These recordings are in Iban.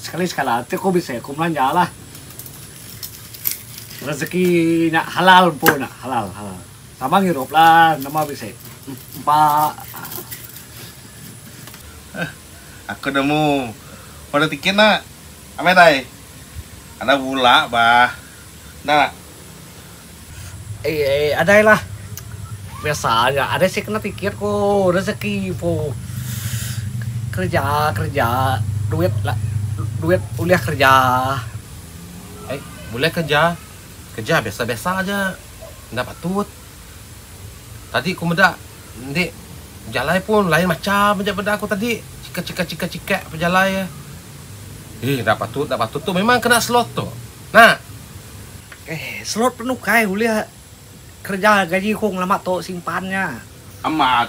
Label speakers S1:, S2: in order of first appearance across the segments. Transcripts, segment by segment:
S1: Sekali sekala ti aku bisi aku belanja lah. Rezeki nya halal empu nya halal halal. Sama ngirup lah nama bisi empa aaa. Heh
S2: aku nemu order tiket nya. Amai dai. Anak bula bah. Enda. Ai
S1: ai adailah. Biasa aja. Ada si kena tiket ko rezeki po. Kerja kerja duit la duit ulih kerja. Ai
S3: bulih kerja. Kerja biasa biasa aja. Enda patut. Tadi ku meda ende jalai pun lain macam aja meda ku tadi. Cikak cikak cikak cikak pejalai. Ih enda patut enda patut tu memang kena slow tu. Nah.
S1: Eh, selot penukai ulih kereja gaji aku ngelama tu simpan nya. Amat.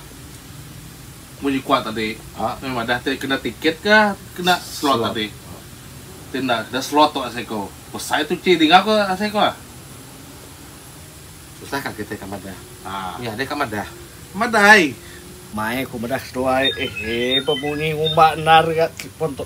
S2: Munyi kuat tadi, meh madah ti kena tiket ke kena selot tadi. Ti enda kena selot tu asai ku besai tuchi dinga ku asai ku. Susah
S3: ka kitai ka madah. Nya deh ka madah. Madah ai.
S2: Mai ku
S1: madah seduai. Eh, bemunyi ngumba endar ga telefon tu.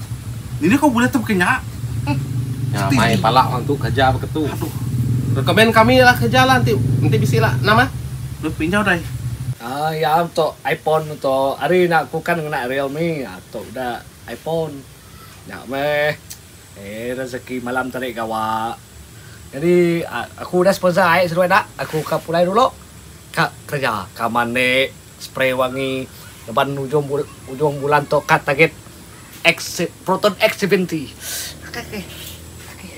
S2: Dini kau bulih tebka nya. Nya
S3: mai pala orang tu kerja beketu. Recommend kami lah kerja lah enti enti bisi lah enam ah. Deh pin jau dai.
S2: Aaa iya
S1: tu iphone tu tu ari nya aku kan ngena realme aaa tu udah iphone nya meh eee rezeki malam tadi gawa jadi aku udah sponsor ai seduai enda aku ka pulai dulu ka kerja ka mandi. Spray wangi ngeban ujung ujung bulan tu ka target X proton X seventy. Okey okey. Okey.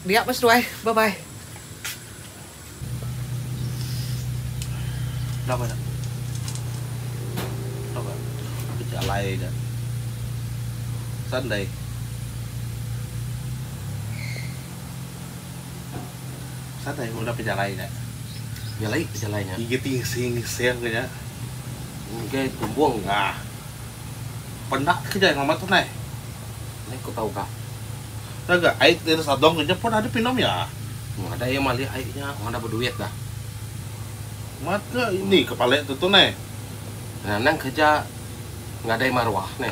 S1: Dia meh seduai. Bye bye.
S2: Dah bah dah. Dah bah. Aku ti alai dah. Sandai. Satai udah pejalai nya. Jalai pejalai
S3: nya. Igi ti ngising
S2: ngising ke nya. Enggai
S3: tumbung ga.
S2: Penda ke jai ngamat tu nai. Nai ku
S3: tau ga. Dah ga
S2: ai ti sadong ke nya pun ada pinum ya. Ada iya mali
S3: ai nya wang dah beduit dah. Mat ke
S2: ini ke pale tu tu nai. Nanang
S3: kerja ngadai maruah nai.